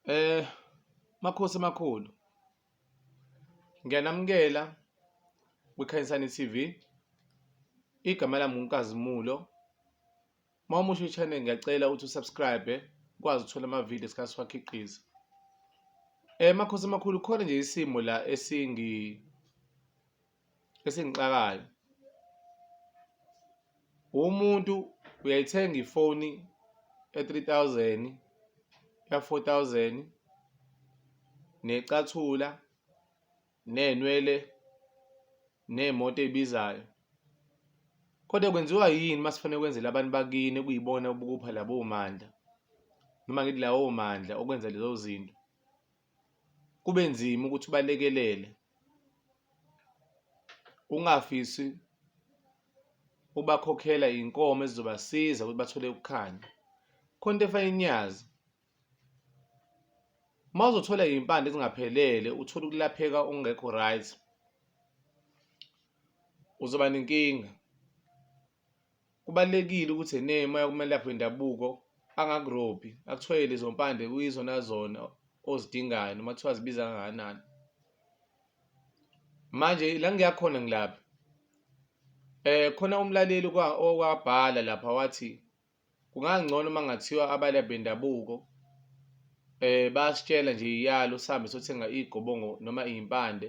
Eh Makhosi amakhulu. Ngiyanamukela kwiKhanyisani TV. Igama lami nguNkazimulo. Uma umusha i-channel ngiyacela ukuthi usubscribe ukwazi ukuthola ama-video esikhathi siwakhiqiza. Eh Makhosi amakhulu khona nje isimo la esingi esingixakayo umuntu uyayithenga ifoni e-three thousand ya-four thousand necathula neynwele ney'moto ey'bizayo kodwa kwenziwa yini uma sifanele kwenzela abantu bakini kuyibona ubukupha labo mandla noma ngithi lawo mandla okwenza lezo zinto kube nzima ukuthi balekelele ungafisi ubakhokhela inkomo ezizobasiza ukuthi bathole ukukhanya khona into efana inyazi uma uzothola iy'mpande ezingaphelele uthole ukulapheka ongekho right uzoba nenkinga Kubalulekile ukuthi ene uma uyokumelaphi wendabuko angakurobhi akuthiwe lezo mpande kuyizona zona ozidingayo noma kuthiwa zibiza kangakanani. Manje la ngiya khona ngilapha um khona umlaleli owabhala lapha wathi kungangcono uma kungathiwa abalaphi bendabuko um bayasitshela nje iyalo sihambe sothenga iy'gobongo noma iy'mpande.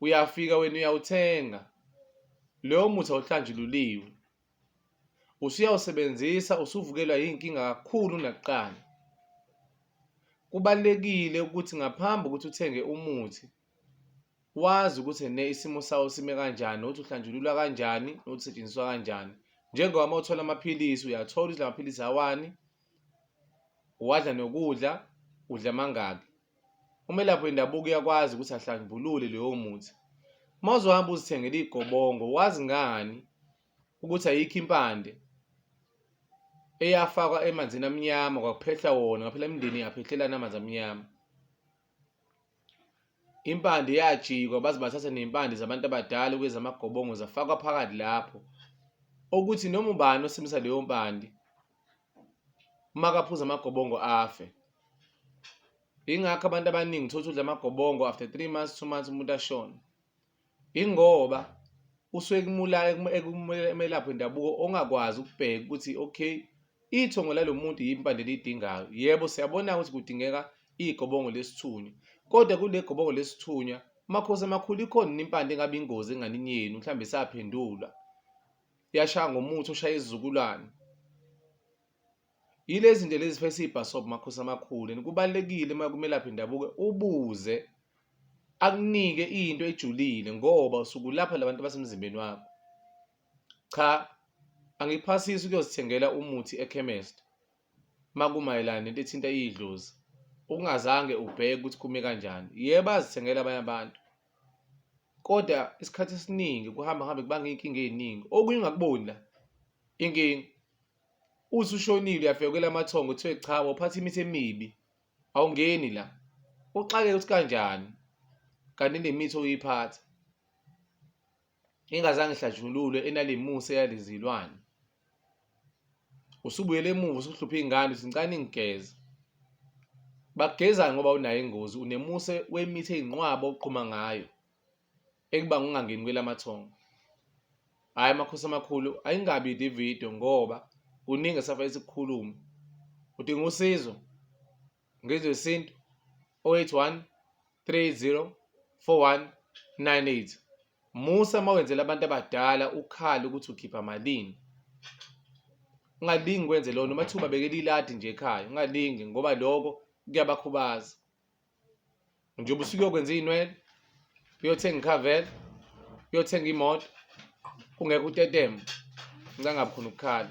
uyafika wena uyawuthenga loyo muthi awuhlanjululiwe usuyawusebenzisa usuvukelwa yinkinga kakhulu nakuqala kubalekile ukuthi ngaphambi ukuthi uthenge umuthi wazi ukuthi ne isimo sawo sime kanjani nokuthi uhlanjululwa kanjani nokuthi setshenziswa kanjani njengoba uma uthola amaphilisi uyathola ukuthi la maphilisi awani uwadla nokudla udla mangaki Umelaphi wendabuko uyakwazi ukuthi ahlambulule leyo muthi. Uma uzohamba uzithengela iy'gobongo, wazi ngani ukuthi ayikho impande eyafakwa emanzini amnyama kwakuphehla wona ngaphela imindeni yaphehlelana amanzi amnyama impande yajikwa baze bathatha ney'mpande zabantu abadala kwezamagobongo zafakwa phakathi lapho okuthi noma ubani osebenzisa leyo mpande uma kaphuza amagobongo afe ingakho abantu abaningi thola udla amagobongo after three months two months umuntu ashone ingoba usuke kumulala ekumelaphi wendabuko ongakwazi ukubheka ukuthi okay ithongo lalo muntu yimpande elidingayo yebo siyabona ukuthi kudingeka igobongo lesithunywa kodwa kule gobongo lesithunywa makhosi amakhulu ikhona impande engabe ingozi enganini yenu mhlawumbe saphendulwa uyashaya ngomuthi ushaya izizukulwane yilezi zinto lezi phese ibhasob makhosi amakhulu and kubalekile uma kumelaphi ndabuke ubuze akunike into ejulile ngoba usuku lapha labantu basemzimbeni wakho cha angiphasisi ukuyozithengela umuthi ekhemest makumayelana nento ethinta idlozi ungazange ubheke ukuthi kume kanjani yebo azithengela abanye abantu kodwa isikhathi esiningi kuhamba hambe kubanga iy'nkinga ey'ningi okunye ungakuboni la inkinga uthi ushonile uyafika kwela amathongo kuthiwe cha waphatha imithi emibi awungeni la uxakeke ukuthi kanjani kanti nemithi oyiphatha ingazange ihlatshululwe enalimusa eyalizilwane usubuyele emuva usuhlupha iy'ngane uthi ngicane ngigeze bagezani ngoba unayo ingozi unemuse wemithi eyinqwaba oqhuma ngayo ekubanga ungangeni kwelamathongo hhayi amakhosi amakhulu ayingabi le video ngoba kuningi esafanele sikukhulume udinga usizo ngizwe isintu 081 30 41 98 musa uma wenzela abantu abadala ukhale ukuthi ukhipha malini ungalingi kwenze lona uma thiwa ubabekela iladi nje ekhaya ungalingi ngoba lokho kuyabakhubaza njengoba usuke uyokwenza iy'nwele uyothenga ikhavela uyothenga imoto kungekho utetema ncangabi khona ukukhala